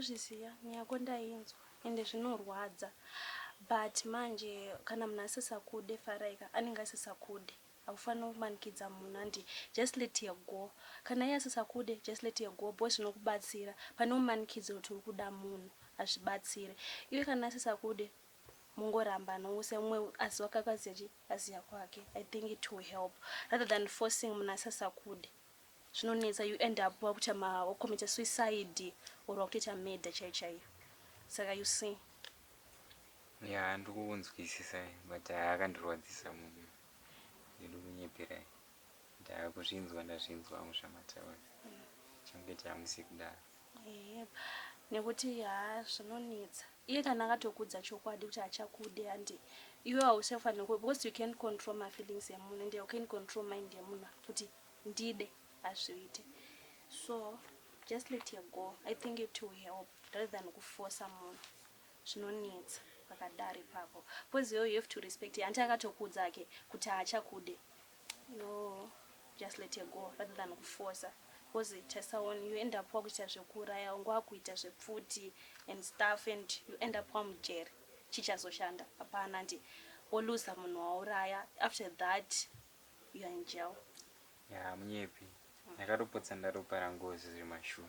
ndozviziva nyaya yako ndainzwa ende zvinorwadza but manje kana munhu asisakude faraika anenge asisakude Haufanire kumanikidza munhu hanti just let her go kana iye asisakude just let her go boys zvinokubatsira pane umanikidzire kuti urikuda munhu hazvibatsire iwe kana asisakude mungoramba nousa umwe aziva kakazi achi aziva kwake i think it will help rather than forcing munhu asisakude zvinonetsa you end up wakuita ma wakomita suicide or wakutoita murder chaiyo chaiyo saka you see ya ndikukunzwisisa but akandirwadzisa munhu Ndirikunyeperai ndakuzvinzwa ndazvinzwa hangu zvamataura change chamusi kudaro nekuti haa zvinonetsa iye kana akatokudza chokwadi kuti achakude handi iwe hausafanira kuwe because you can't control my feelings emunhu and you can't control mind emunhu kuti ndide hazviite so just let her go i think it will help rather than kufosa munhu Zvinonetsa pakadaro ipapo because iwewe you have to respect hanti akatokuudza hake kuti haachakude yoo just let her go rather than kufosa because taisaon you end up wakuita zvekuuraya wangu wakuita zvepfuti and stuff and you end up wamujeri chichazoshanda hapana ndi woluza munhu wauraya after that you are in jail ya munyepi ndakatopotsa ndaropa rangozi zviri mashuwa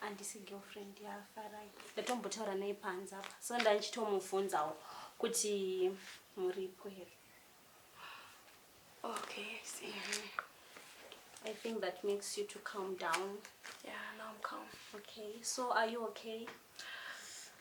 handisi girlfriend yaFarai ndatombotaura naye panze apa so ndandichitomubvunzawo kuti muripo here okay i see mm -hmm. I think that makes you to calm down. Yeah, now I'm calm. Okay, so are you okay?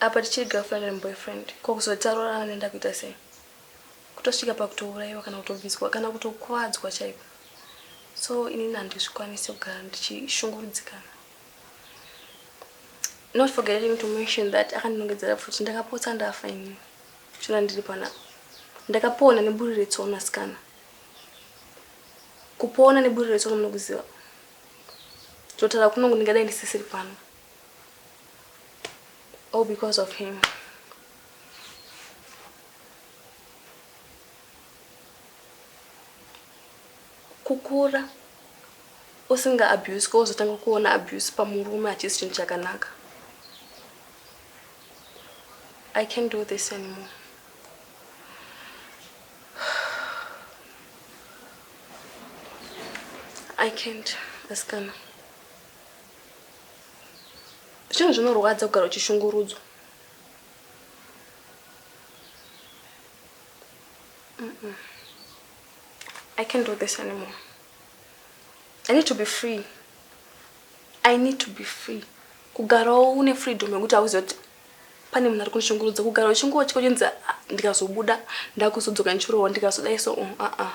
Apa tichiri girlfriend and boyfriend ko kuzoti taroorana anoenda kuita sei? Kutosvika pakutouraiwa kana kutobviswa kana kutokuvadzwa chaiko. So inini handizvikwanise kugara ndichishungurudzikana. Not forgetting to mention that akandinongedzera pfuti ndakapotsa ndafa inini. Chona ndiri panapa. Ndakapona neburi retsono asikana. Kupona neburi retsono munokuziva. Totaura kunongo ndingadai ndisisiri pano. All because of him. Kukura usinga abuse ko uzotanga kuona abuse pamurume achisi chinhu chakanaka. I can't do this anymore. I can't, askana. Zvinhu zvinorwadza kugara uchishungurudzwa. Mm -mm. I can't do this anymore. I need to be free. I need to be free. Kugarawo une freedom yekuti auziva kuti pane munhu ari kunishungurudza kugara uchingotyonzi ah, ndikazobuda ndakuzodzoka ndichirohwa ndikazodai so uh, uh, uh.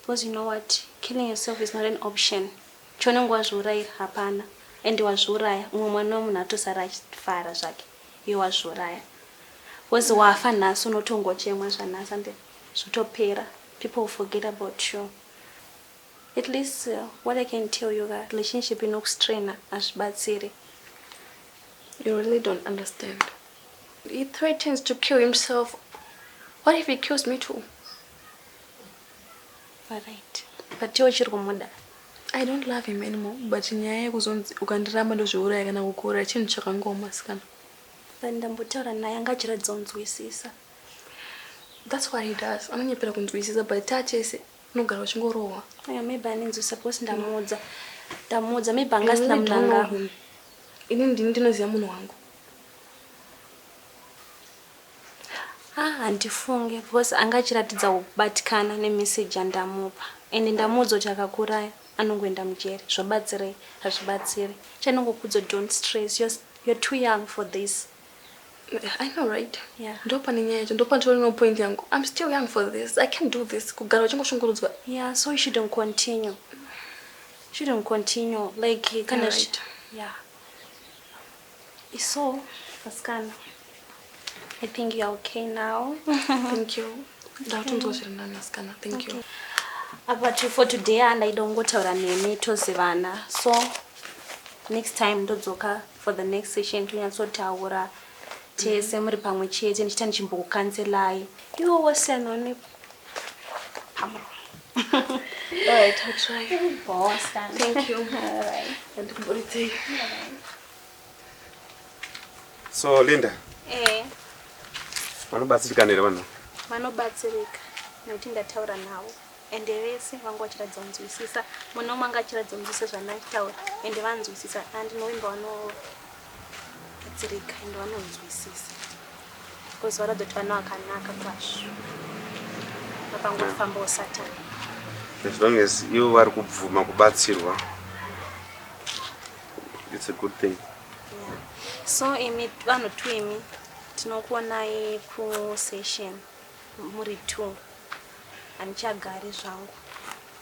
Because you know what killing yourself is not an option chaunenge wazviurayira hapana and wazviuraya umwe mwana wemunhu atosara achifara zvake iwe wazviuraya because wafa nhasi unotongochemwa zvanhasi ande zvotopera people will forget about you at least uh, what i can tell you ka relationship inokustrainer hazvibatsiri you really don't understand he threatens to kill himself what if he kills me too Alright. But iwe uchiri kumuda. I don't love him anymore but nyaya yekuzonzi ukandiramba ndozviuraya kana kukuuraya chinhu chakangoma sikana. Then ndambotaura naye anga achiratidza kunzwisisa. That's what he does. Anonyepera kunzwisisa but tachese unogara uchingorohwa. Yeah, maybe anenzwisisa because ndamuudza. Ndamuudza maybe anga asina mudanga. Ini ndini ndinoziva munhu wangu. Haa handifunge because anga achiratidza kubatikana nemessage yandamupa and ndamuudza kuti akakuuraya anongoenda mujeri zvobatsirei hazvibatsiri chanongokuudza kuti don't stress you're, you're too young for this I know right yeah. ndopane nyaya yacho ndopanditori no point yangu I'm still young for this I can't do this kugara uchingoshungurudzwa yeah so you shouldn't continue shouldn't continue like kana right. yeah So, vasikana, I think you are okay now. Thank you. Ndakutonzwa zviri nani vasikana. Thank you. Apa to for today andaida kungotaura nemi tozivana. So, next time ndodzoka for the next session tonyatsotaura tese muri pamwe chete ndichita ndichimbokukanzelai. Iwo wose anoonekwa. All right, I'll try. Boss, thank you. All right. And Murite. So, Linda. Eh. Vanobatsirika nere vanhu? Vanobatsirika nekuti ndataura navo ende vese vanga vachiratidza kunzwisisa mune umwe anga achiratidza kunzwisisa zvandakitaura ende vanzwisisa andinoimba vano Batsirika and vanonzwisisa because vanoda kuti vana vakanaka kwazvo vakangofambawo satani as long as ivo vari kubvuma kubatsirwa it's a good thing yeah. so imi vanhu two imi tinokuonai kusession muri two handichagari zvangu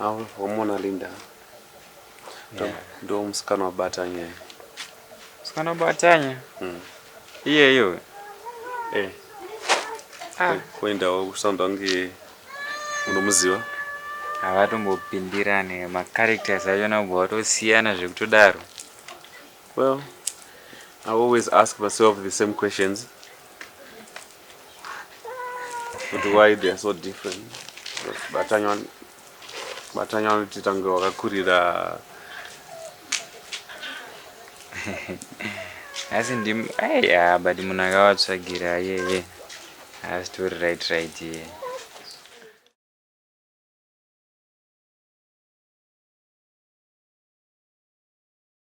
Awe wamona Linda ndo musikana wabatanya iye. Musikana wabatanya? Mm. Iyeyo. Eh. Ah. Kuendawo kusound wange unomuziva? Havatombopindirane macharacters acho nabva watosiyana zvekutodaro. Well, I always ask myself the same questions. But why they are so different? Batanya Batanya vanoti tange wakakurira asi ndim aiya but munhu akavatsvagira yeye asitori right right yeye yeah.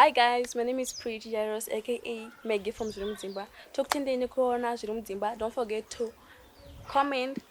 hi guys my name is pretty jairos aka maggie from zviri mudzimba tokutendei nekuona zviri mudzimba don't forget to comment